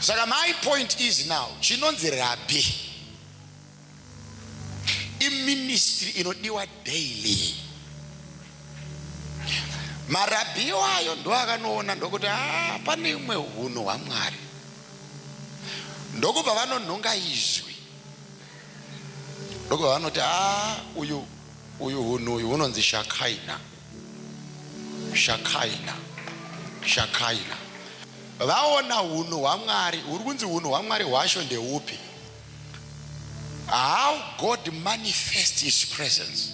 saka my point is now chinonzi rabhi iministry inodiwa daily marabhi iwayo ndo akanoona ndokuti ah, pane imwe hunhu hwamwari ndokubva vanonhonga izwi ndokubva vanoti a ah, uyu uyu hunhu uyu hunonzi shakaina Shakaina, Shakaina. Vaona hunhu hwaMwari, huri kunzi hunhu hwaMwari hwacho ndeupi? How God manifests his presence.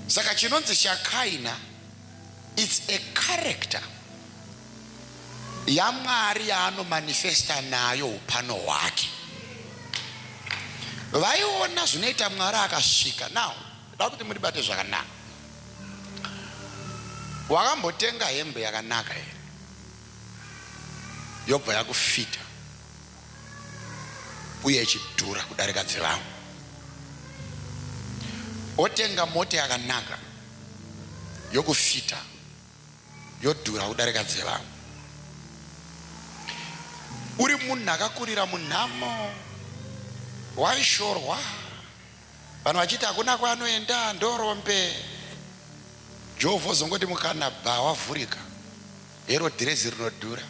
Saka chinonzi Shakaina, it's a character yaMwari yaanomanifesta nayo upano hwake. Vaiona zvinoita Mwari akasvika now Ndoda kuti muribate zvakanaka. Wakambotenga hembe yakanaka here yobva yakufita uye ichidhura kudarika dzevamwe? Wotenga mota yakanaka yokufita yodhura kudarika dzevamwe? Uri munhu akakurira munhamo, waishorwa. Vanhu vachiti hakuna kwaanoenda ndorombe. Jovho ozongoti mukana baa wavhurika. Hero dhirezi rinodhura.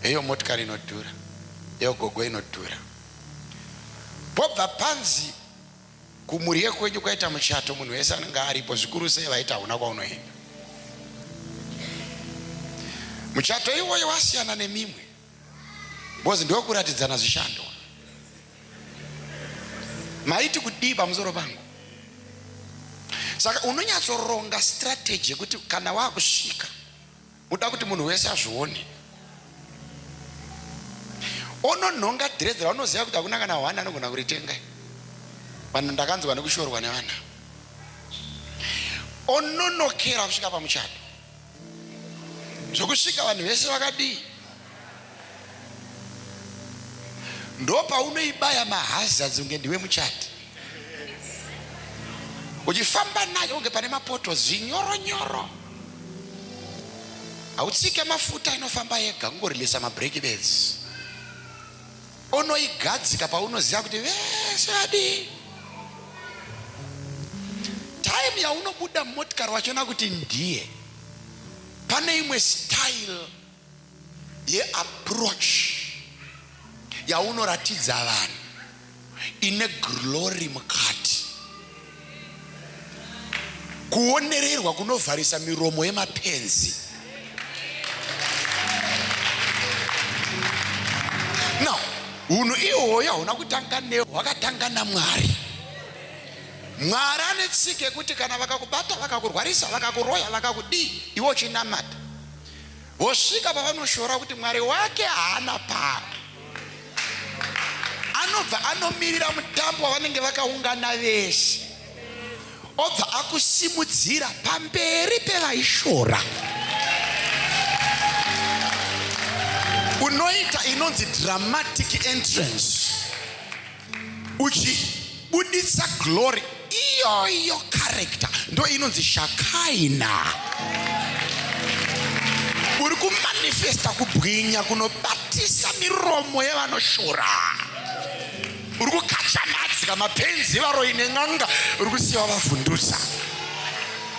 Heyo motikari inodhura. Heyo gogo inodhura. Pobva panzi kumurye kwenyu kwaita muchato munhu wese anenge aripo zvikuru sei vaiti hauna kwaunoenda. Muchato iwoyo wasiyana nemimwe. because ndokuratidzana zvishando maiti kudii pamusoro pangu saka unonyatsoronga strategy yekuti kana wakusvika uda kuti munhu wese azvione ononhonga dhirezi raunoziva kuti hakuna kana hwani anogona kuritenga vanhu ndakanzwa nekushorwa nevana ononokera kusvika pamuchato zvokusvika vanhu vese vakadii ndopaunoibaya mahazards unge ndiwe muchati uchifamba nayo unge pane mapoto zinyoro nyoro hautsike mafuta inofamba yega kungorilisa mabreak beds Unoigadzika paunoziva kuti vese vadii. Time yaunobuda mumotikari wachiona kuti ndiye. Pane imwe style yeapproach yaunoratidza vanhu ine glory mukati Kuonererwa kunovharisa miromo yemapenzi. Now, hunhu ihwoyo hauna kutanga neho, hwakatanga naMwari. Mwari ane tsika yekuti kana vakakubata, vakakurwarisa, vakakuroya, vakakudii, iwe uchinamata, Vosvika pavanoshora kuti Mwari wake haana pamwe. Anobva anomirira mutambo wavanenge vakaungana vese, obva akusimudzira pamberi pevaishora. Unoita inonzi dramatic entrance. uchibuditsa glory iyoyo character ndo inonzi shakaina uri kumanifesta kubwinya kunobatisa miromo yevanoshora uri kukachamadzika mapenzi varoi nen'anga uri kusiya vavhundutsa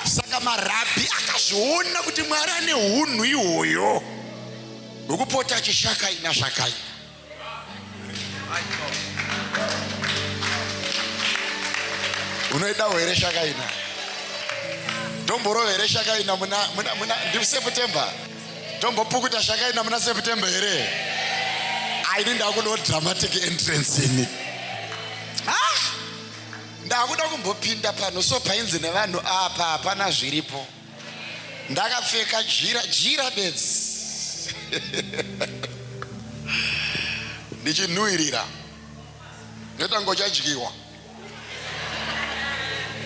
saka marabhi akazviona kuti mwari ane unhu ihwoyo hwekupota achishakaina zvakaina unoidawo here shakaina ndomborowo here shakaina ndiseptember ndombopukuta shakaina muna september here aini ndakudawo dramatic entrance ini ndakuda kumbopinda pano so painzi nevanhu apa hapana zviripo ndakapfeka jira jira bedzi ndichinhuhirira ndotango chadyiwa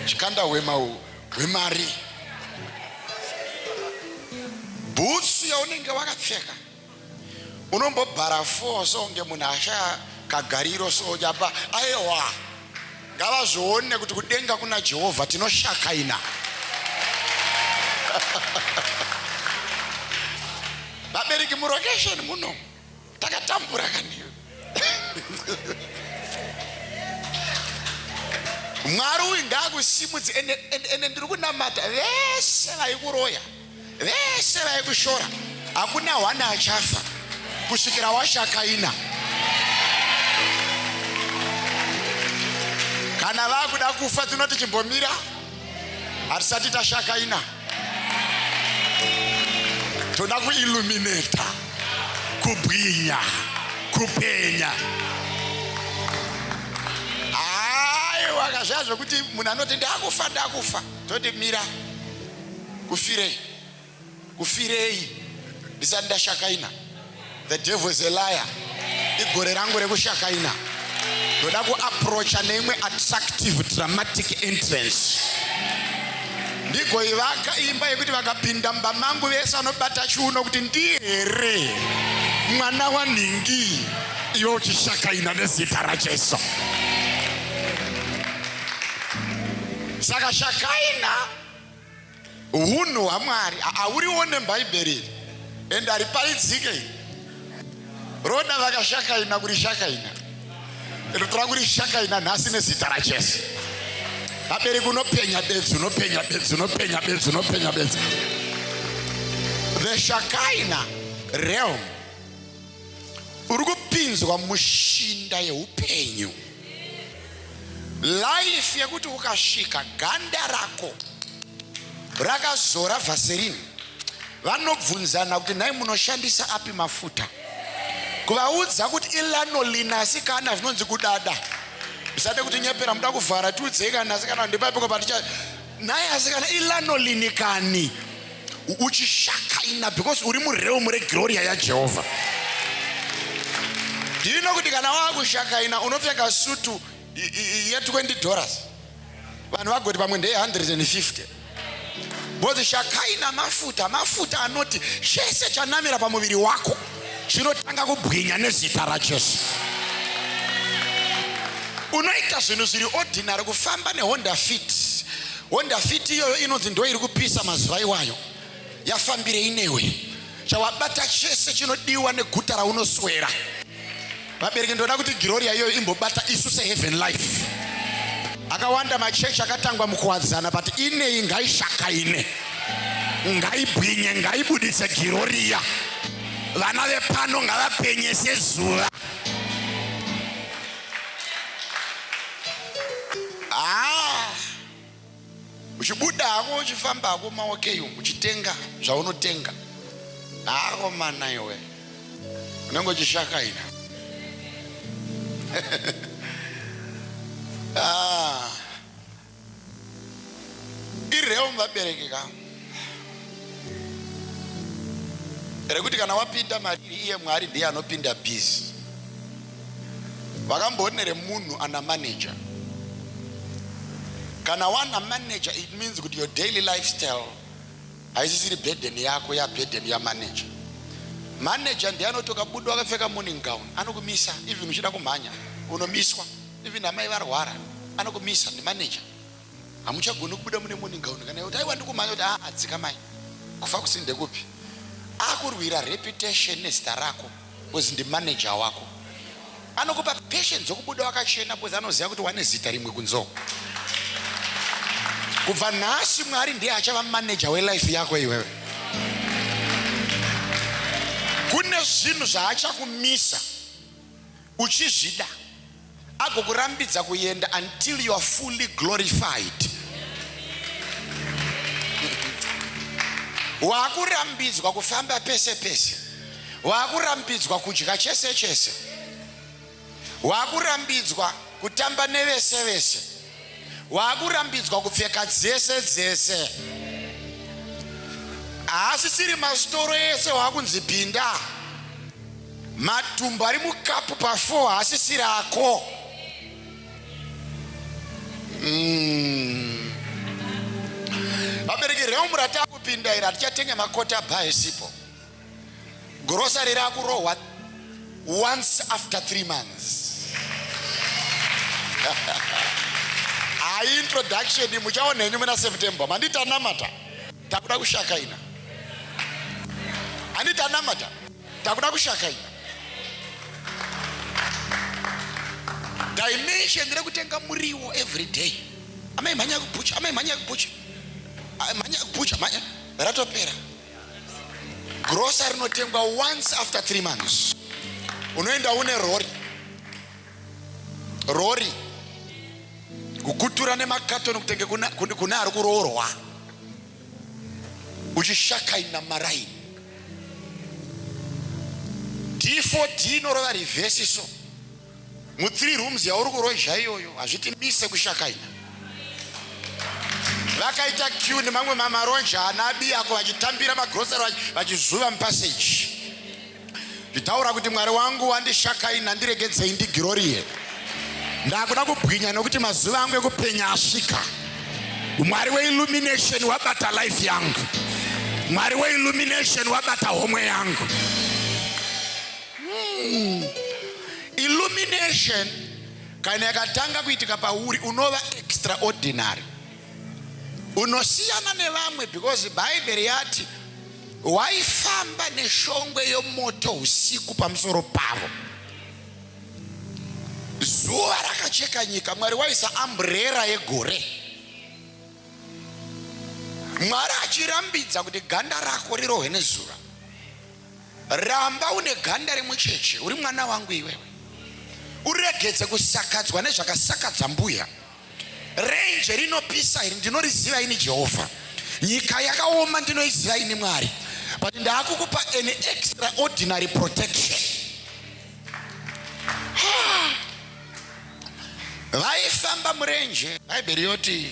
chikanda hwema hwemari bhutsu yaunenge wakapfeka Unombobhara four so kunge munhu ashaya kagariro so apa aewa ngavazvione kuti kudenga kuna Jehovha tinoshakaina vabereki murokesheni muno takatambura kani mwari uyu ngaakusimudze ende, ende, ende ndiri kunamata vese vaikuroya Vese vaikushora hakuna one achafa kusvikira washakaina. Kana vakuda kufa tinoti chimbomira hatisati tashakaina. Toda kuilluminata, kubwinya, kupenya. Aiwa kazviya zvekuti munhu anoti ndakufa ndakufa toti mira. kufirei kufirei ndisati ndashakaina the devil is a liar igore rangu rekushakaina ndoda kuaprocha neimwe attractive dramatic entrance ndigoivaka imba yekuti vakapinda mumba mangu vese vanobata chiuno kuti ndiye here mwana wanhingi iwe uchishakaina nezita rajesu saka shakaina Hunhu hwaMwari hauriwo nebhaibheri iri and hariparidzike iri. Roda vakashakaina kurishakaina. Rinotora kurishakaina nhasi nezita raJesu. Vabereki unopenya bedzi, unopenya bedzi, unopenya bedzi, unopenya bedzi. The Shakaina realm uri kupinzwa mushinda yeupenyu life yekuti ukasvika ganda rako rakazora vaserini vanobvunzana kuti nhai munoshandisa api mafuta kuvaudza kuti ilanolina asi kana zvinonzi kudada zvisade kutinyepera muda kuvhara tiudzei kana asi kana ndepapiko paticha Nhai asi kana ilanolini kani uchishakaina because uri mureum regloria yajehovha ndino kuti kana waakushakaina unopfeka sutu ye20 dollars vanhu vagoti pamwe ndeye 150 bozi shakaina mafuta mafuta anoti chese chanamira pamuviri wako zvinotanga kubwinya nezita rajesu unoita zvinhu zviri ordinary kufamba nehonda fit honda fit iyoyo inonzi ndo iri kupisa mazuva iwayo yafambirei newe chawabata chese chinodiwa neguta raunoswera Vabereki ndoda kuti Giroria iyoyo imbobata isu se Heaven Life. Akawanda machechi akatangwa mukuwadzana but ineyi ngaishakaine. Ngaibwinye, ngaibudise Giroria. Vana vepano ngavapenye sezuva. Ah! Uchibuda hako uchifamba hako maokei umu uchitenga zvaunotenga. Hako mana iwe. Unenge uchishakaira. Ah. Ireum vabereki ka. rekuti kana wapinda mariri iye mwari ndiye anopinda busy vakamboone remunhu ana manager kana wana manager it means kuti your daily lifestyle haisisiri burden yako yaburden yamanager manager ndiye anotoka budo akapfeka morning gown anokumisa even uchida kumhanya unomiswa even amai varwara anokumisa nemanager hamuchagoni kubuda mune morning gown kana yoti aiwa ndikumhanya kuti aa dzikamai kufa kusini ndekupi akurwira reputation nezita rako bcause ndimanager wako anokupa passion dzokubuda wakachena bcause anoziva kuti wane zita rimwe kunzoo kubva nhasi mwari ndiye achava manager welife yako iwewe kune zvinhu zvaachakumisa uchizvida agokurambidza kuenda until you are fully glorified waakurambidzwa kufamba pese pese waakurambidzwa kudya chese chese waakurambidzwa kutamba nevese vese waakurambidzwa kupfeka dzese dzese haasisiri masitoro ese waakunzi pinda matumbu ari mukapu pafo haasisiri ako mm. vabereki reumurati akupinda iri hatichatenga makota bha esipo Grocery rakurohwa once after three months. Hayi introduction muchaona henyu muna September. Mandi tanamata. Takuda kushaka ina. Ani tanamata. Takuda kushaka ina. Dimension rekutenga muriwo every day. Amai mhanya kupucha, amai mhanya kupucha. Mhanya kupucha, mhanya ratopera. Grosa rinotengwa once after three months. Unoenda une rori rori kukutura nemakatoni kutenge kuna, kuna, kuna ari kuroorwa uchishakaina maraini d4d inorova rivhesi so Mu three rooms yauri kurozha iyoyo hazviti mise kushakaina. Vakaita queue nemamwe mamaronja ana abiyako vachitambira magrocery vachizuva mupassage. Nditaura kuti Mwari wangu wandishakaina ndiregedzei ndigirorie. Ndakuda kubwinya nokuti mazuva angu ekupenya asvika. Mwari we illumination wabata life yangu. Mwari we illumination wabata homwe yangu. Hmm. Illumination kana yakatanga kuitika pauri unova extraordinary, unosiyana nevamwe because Bhaibheri yati waifamba neshongwe yomoto usiku pamusoro pavo, zuva rakacheka nyika, Mwari waisa amburera yegore, Mwari achirambidza kuti ganda rako rirohwe nezuva. Ramba une ganda remucheche uri mwana wangu iwewe. Uregedze kusakadzwa nezvakasakadza mbuya. Renje rinopisa iri ndinoriziva ini Jehovha. Nyika yakaoma ndinoiziva ini Mwari. But ndaakukupa an extraordinary protection. Vaifamba murenje. Bhaibheri yoti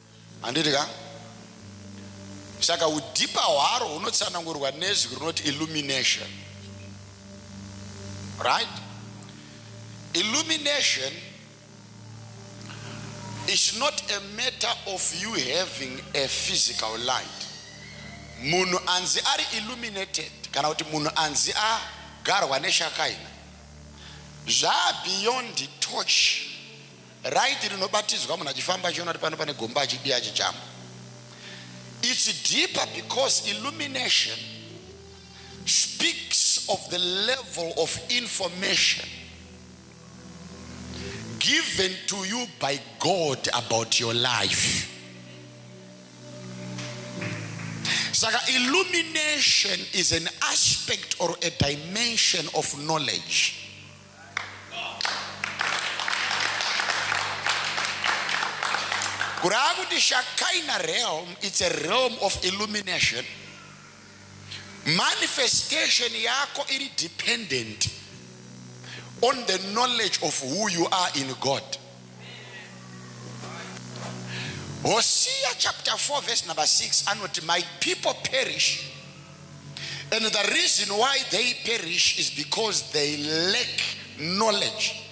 Handiti ka? Saka hudhipa hwaro hunotsanangurwa nezwi rinoti illumination. Right? Illumination is not a matter of you having a physical light. Munhu anzi ari illuminated kana kuti munhu anzi agarwa neshakaina zvaa beyond touch Right rinobatidzwa munhu achifamba achiona kuti pano pane gomba achidii achijamba. It's deeper because illumination speaks of the level of information given to you by God about your life. Saka illumination is an aspect or a dimension of knowledge. kurava kuti shakaina realm its a realm of illumination manifestation yako iri dependent on the knowledge of who you are in god hosea chapter 4 verse number 6 anoti my people perish And the reason why they perish is because they lack knowledge.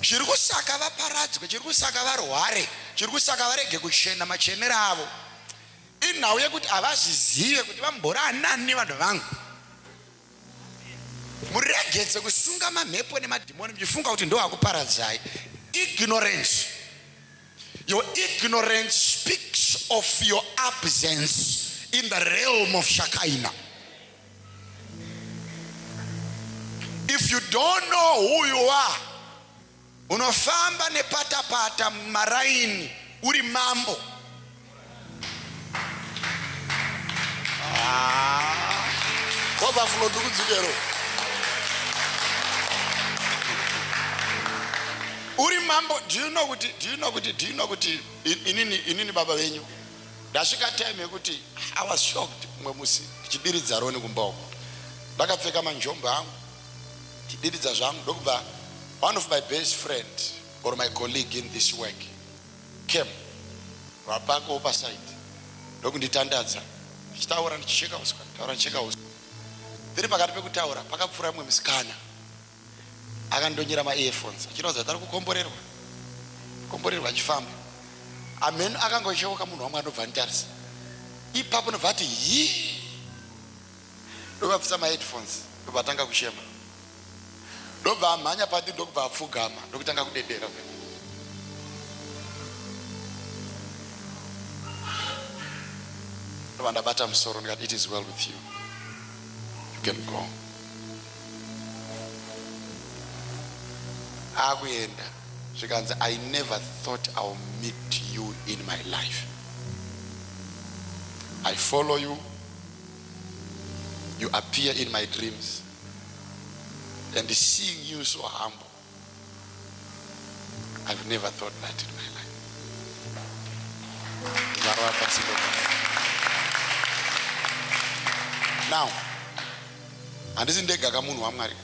chiri kusaka vaparadzwe chiri kusaka varware chiri kusaka varege kuchena machenero avo inhau yekuti havazvizive kuti vambora anani vanhu vangu muregedze kusunga mamhepo nemadhimoni muchifunga kuti ndoakuparadzai ignorance Your ignorance speaks of your absence in the realm of Shakaina. If you don't know who you are, unofamba nepatapata mumaraini uri mambo Overflow ndiri kudzikero. Uri mambo, do you know kuti do you know kuti do you know kuti in- inini inini baba venyu ndasvika time yekuti I was shocked umwe musi ndichidiridza roni kumba uko. Ndakapfeka manjombo angu ndichidiridza zvangu ndokubva one of my best friend or my colleague in this work Cam vapakawo paside ndokunditandadza ndichitaura ndichisheka huswa nditaura ndichisheka huswa. Tiri pakati pekutaura pakapfuura mumwe musikana akandonyera maearphones achiratidza kuti ari kukomborerwa komborerwa achifamba. Hamheno akangocheuka munhu wamwari ndobva anditarisa ipapo ndobva ati hii. ndokabvisa maheadphones ndobva atanga kuchema ndobva amhanya padi ndokubva apfugama ndokutanga kudedera ndobva ndabata musoro ndikati it is well with you you can go akuenda zvikanzi i never thought ill meet you in my life i follow you you appear in my dreams and seeing you so humble I've never thought that in my life. Now, handisi ndega ka munhu wamwari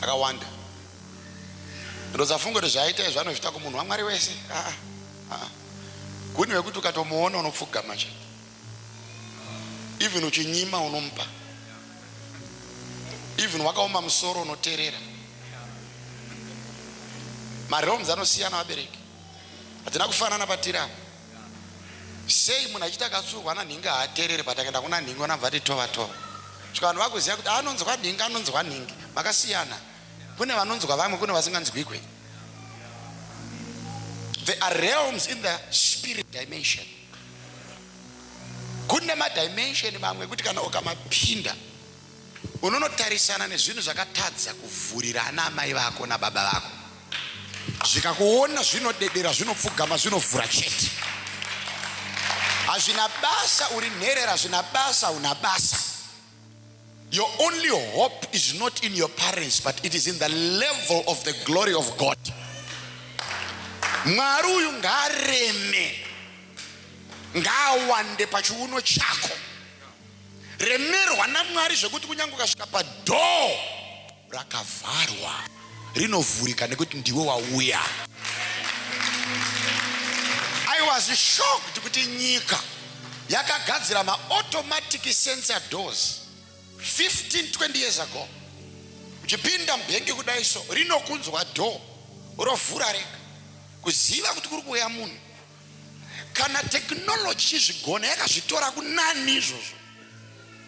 akawanda ndozafunga kuti zvaaita izvo anozviita kumunhu wamwari wese aa ah, ah. Haa Guni vekuti ukatomuona unopfugama chete even uchinyima unomupa even wakaoma musoro unoterera marealms anosiyana vabereki hatina kufanana patiri apa sei munhu achiti akatsurwa nanhingi haaterere but akaenda kuna nhingi onabva ati tova tova saka vanhu vakuziva kuti anonzwa nhingi anonzwa nhingi makasiyana Kune vanonzwa vamwe kune vasinganzwikwe. There are realms in the spirit dimension. Kune madimension mamwe ekuti kana ukamapinda unonotarisana nezvinhu zvakatadza kuvhurira ana amai vako nababa vako. Zvikakuona zvinodedera, zvinopfugama, zvinovhura chete. Hazvina basa uri nherera, hazvina basa una basa. Your only hope is not in your parents but it is in the level of the glory of God. Mwari uyu ngaareme, ngaawande pachiuno chako. Remerwa naMwari zvekuti kunyange ukasvika padhoo rakavharwa rinovhurika nekuti ndiwe wauya i was shocked kuti nyika yakagadzira maautomatic sensor doors 15 20 years ago uchipinda mubhengi kudai so rinokunzwa door rovhura rega kuziva kuti kuri kuuya munhu Kana technology ichizvigona yakazvitora kunani izvozvo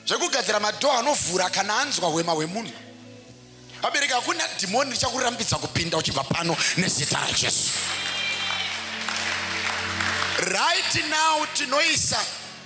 zvekugadzira madhoo anovhura kana anzwa hwema hwemunhu. Vabereki, hakuna dhimoni richakurambidza kupinda uchibva pano nezita raJesu. Right now tinoisa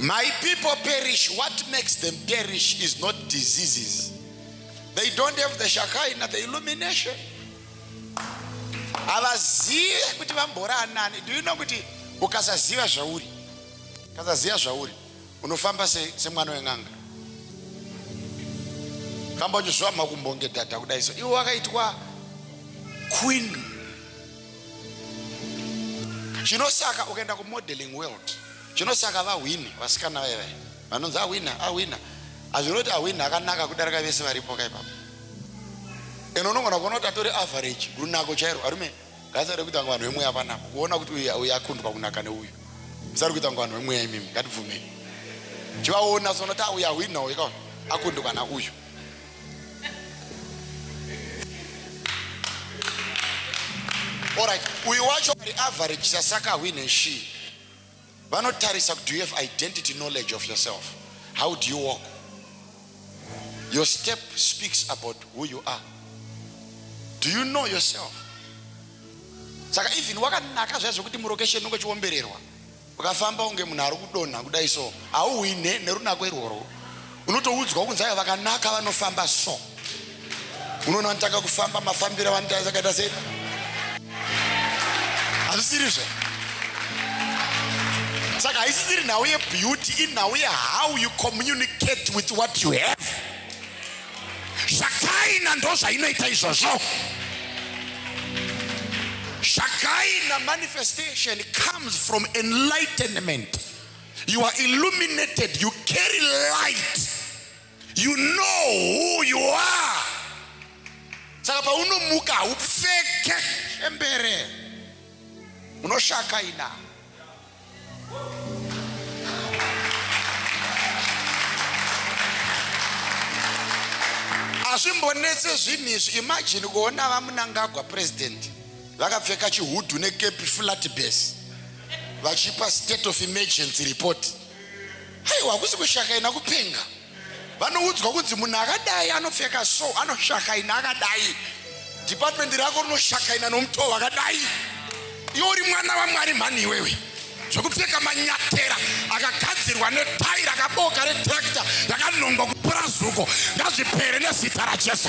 My people perish. What makes them perish is not diseases. They don't have the Shekinah, the illumination. havazive kuti vamboranani do you know kuti ukasaziva zvauri ukasaziva zvauri Unofamba se, semwana wen'anga kamba uchizviwa makumbo ngedhadha kudai so iwe wakaitwa queen chinosaka ukaenda kumodeling world chinosaka vahwini vasikana vaye vaye vanonzi ahwina ahwina hazvinoti ahwina akanaka kudarika vese varipo ka ipapo and unogona kuona kuti atori average runako chairo arume Guys ari kuita kunge vanhu vemweya vanako. Kuona kuti uyu uyu akundwa kunaka neuyu. Musari kuita kunge vanhu vemweya imimi. Ngatibvumei. Chivaona so unoti uyu ahwina uyu ka akundwa na uyu. All right. Uyu wacho ari average sasaka ahwine shii. Vanotarisa kuti do you have identity knowledge of yourself? How do you walk? Your step speaks about who you are. Do you know yourself? Saka even wakanaka zvaizo kuti mulocation unenge uchiombererwa ukafamba unge munhu ari kudonha kudai so hauhwine nerunako irworwo unotoudzwa kunzi aya vakanaka vanofamba so unoona vanotanga kufamba mafambiro avanotaakaita sei hazvisiri zve saka haisisiri nhau yebeauty inhau yehow you communicate with what you have zvakaina ndo zvainoita izvozvo zvakaina manifestation comes from enlightenment You are illuminated, you carry light. You know who you are. Saka paunomuka haupfeke embere. Unoshaka ina. hazvimbonetse zvinhu izvi imajini kuona vamunangagwa purezidenti vakapfeka chihudhu nekepi flat base vachipa state of emergency report aiwa hakusi kushakaina kupenga vanoudzwa kunzi munhu akadai anopfeka so anoshakaina akadai department rako rinoshakaina nomutoo wakadai iwe uri mwana vamwari mhani iwewe zvekupfeka manyatera akagadzirwa netai rakaboka retrakta rakanongwa kupura zuko ngazvipere nezita rajesu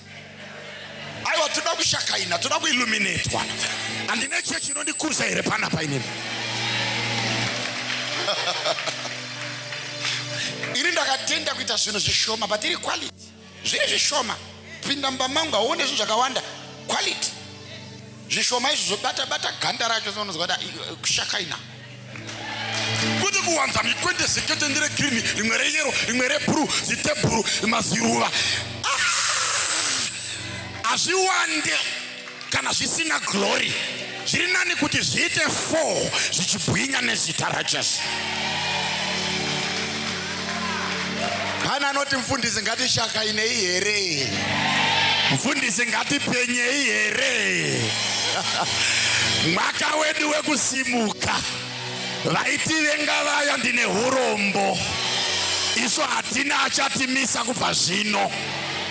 aiwa toda kushakaina toda kuilluminatwa handine chechi inondikuza here pana painini ini ndakatenda kuita zvinhu zvishoma but iri quality zviri zvishoma pinda mumba mangu hauone zvinhu zvakawanda quality zvishoma izvo zvobata bata ganda racho sounonzwa kuti kushakaina kwete kuwanza mikwende sekete ndere girini rimwe reyero rimwe rebhuru zitebhuru maziruva ah! hazviwande kana zvisina glory zviri nani kuti zviite four zvichibwinya nezita rajesu Pane anoti mfundisi ngatishakainei here? Mfundisi ngatipenyei here? Mwaka wedu wekusimuka. Vaitivenga vaya ndine hurombo. Isu hatina achatimisa kubva zvino.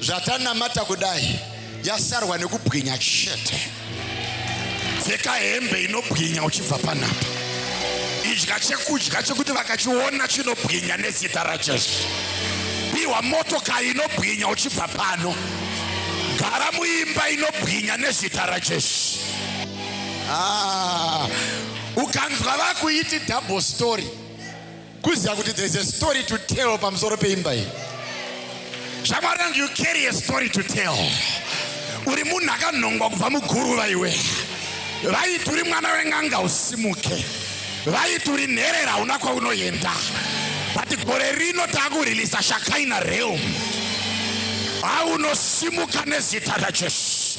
zvatanamata kudai yasarwa nekubwinya chete pfeka hembe inobwinya uchibva panapa idya chekudya chekuti vakachiona chinobwinya nezita rajesu piwa motokari inobwinya uchibva pano gara muimba inobwinya nezita rajesu ah, ukanzwa vakuiti double story kuziva kuti there is a story to tell pamusoro peimba iyi shamwari yangu you carry a story to tell uri munhu akanhongwa kubva muguruva iwe vaiti uri mwana wen'anga usimuke vaiti uri nherera hauna kwaunoenda but gore rino taakurilisa shakaina realm aunosimuka nezita rajesu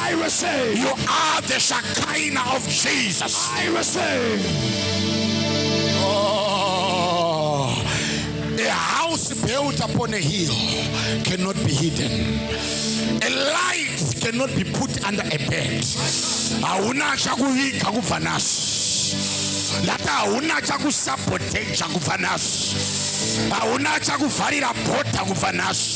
I receive. You are the Shekinah of Jesus. I receive. Oh, a house built upon a hill cannot be hidden. A light cannot be put under a bed. Hauna chakuviga kubva naso. Ndati hauna chakusaboteja kubva naso. Hauna chakuvharira bhodha kubva naso.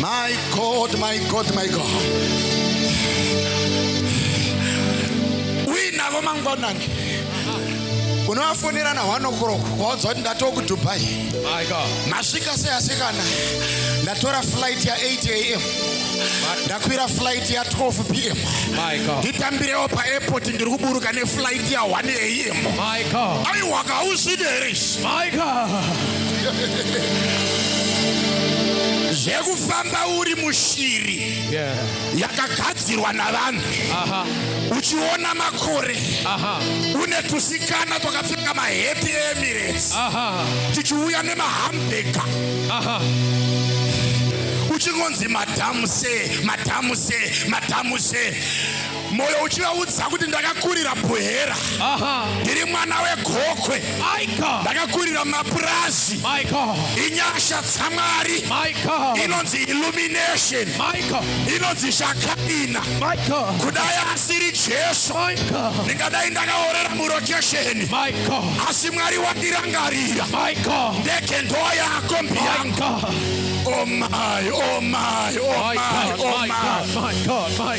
My God, my God, my God. Uinavo mangwanani unovafonera na one o'clock waudza kuti ndatoo kudubai masvika sei asikana ndatora flight ya 8 am ndakwira flight ya 12 pm nditambirewo paairport ndiri kuburuka neflight ya 1 am aiwa kauzvide here My God. zvekufamba uri mushiri Yeah. yakagadzirwa navanhu Aha. uchiona makore Aha. une tusikana twakapfeka mahappy emirates Aha. tichiuya nemahambega Aha. uchingonzi madhamuse madhamuse madhamuse moyo uchivaudza kuti ndakakurira buhera ndiri mwana wegokwe ndakakurira mapurazi inyasha dzamwari inonzi illumination inonzi zvakaina kudai asiri jesu ndingadai ndakaorera murokesheni asi mwari wandirangarira ndege ndoo yako mbiyangu Oh my, oh my, oh my, oh my.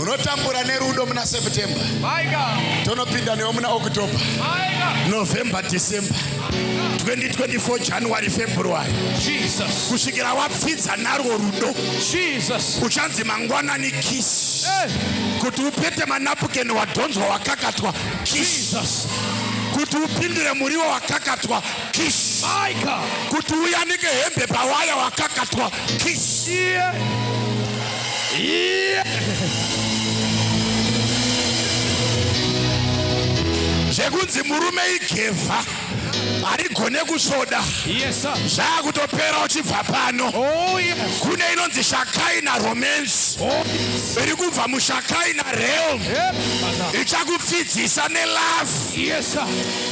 unotambura nerudo muna september tonopinda newo muna october november december 2024 january february jesus kusvikira wapfidza narwo rudo jesus uchanzi mangwanani kiss eh. kuti upete manapukeni wadhonzwa wakakatwa kiss kuti upindire muriwo wakakatwa kiss kuti uyanike hembe pawaya wakakatwa Kishie. Yeah. zvekunzi murume igevha harigone kusvoda zvaakutopera uchibva pano oh, kune inonzi shakai naromance oh, iri kubva mushakai nareal ichakupfidzisa nelafu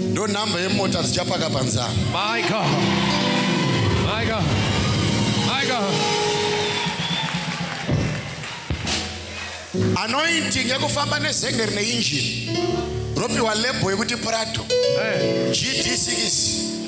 Ndo number yemota dzichapaka panzaa. My God. My God. My God. Anointing yekufamba nezenge rine engine ropiwa label yekuti Prado. Hey. GD6.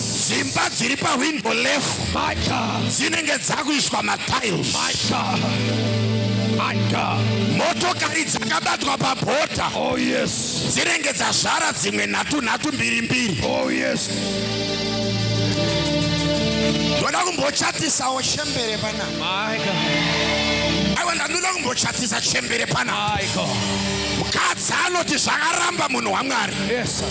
dzimba dziri pahwindo lefu dzinenge dzakuiswa matiles motokari dzakabatwa pabhodha oh, dzinenge dzazvara dzimwe nhatu nhatu mbiri mbiri oh, ndoda kumbochatisawo chembere pana aiwa ndandoda kumbochatisa chembere pana mukadzi anoti zvakaramba munhu wamwari yes,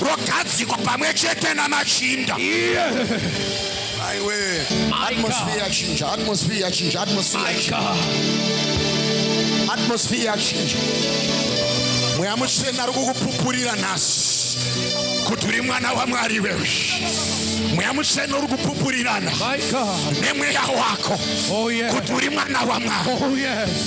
rogadzikwa pamwe chete namachinda aiwe atmosphere yachinja atmosphere yachinja atmosphere yachinja atmosphere yachinja mweya mutsvene ari kukupupurira nhasi kuti uri mwana wamwari wewe mweya mutsvene uri kupupurirana nemweya wako oh, kuti uri mwana wamwari oh,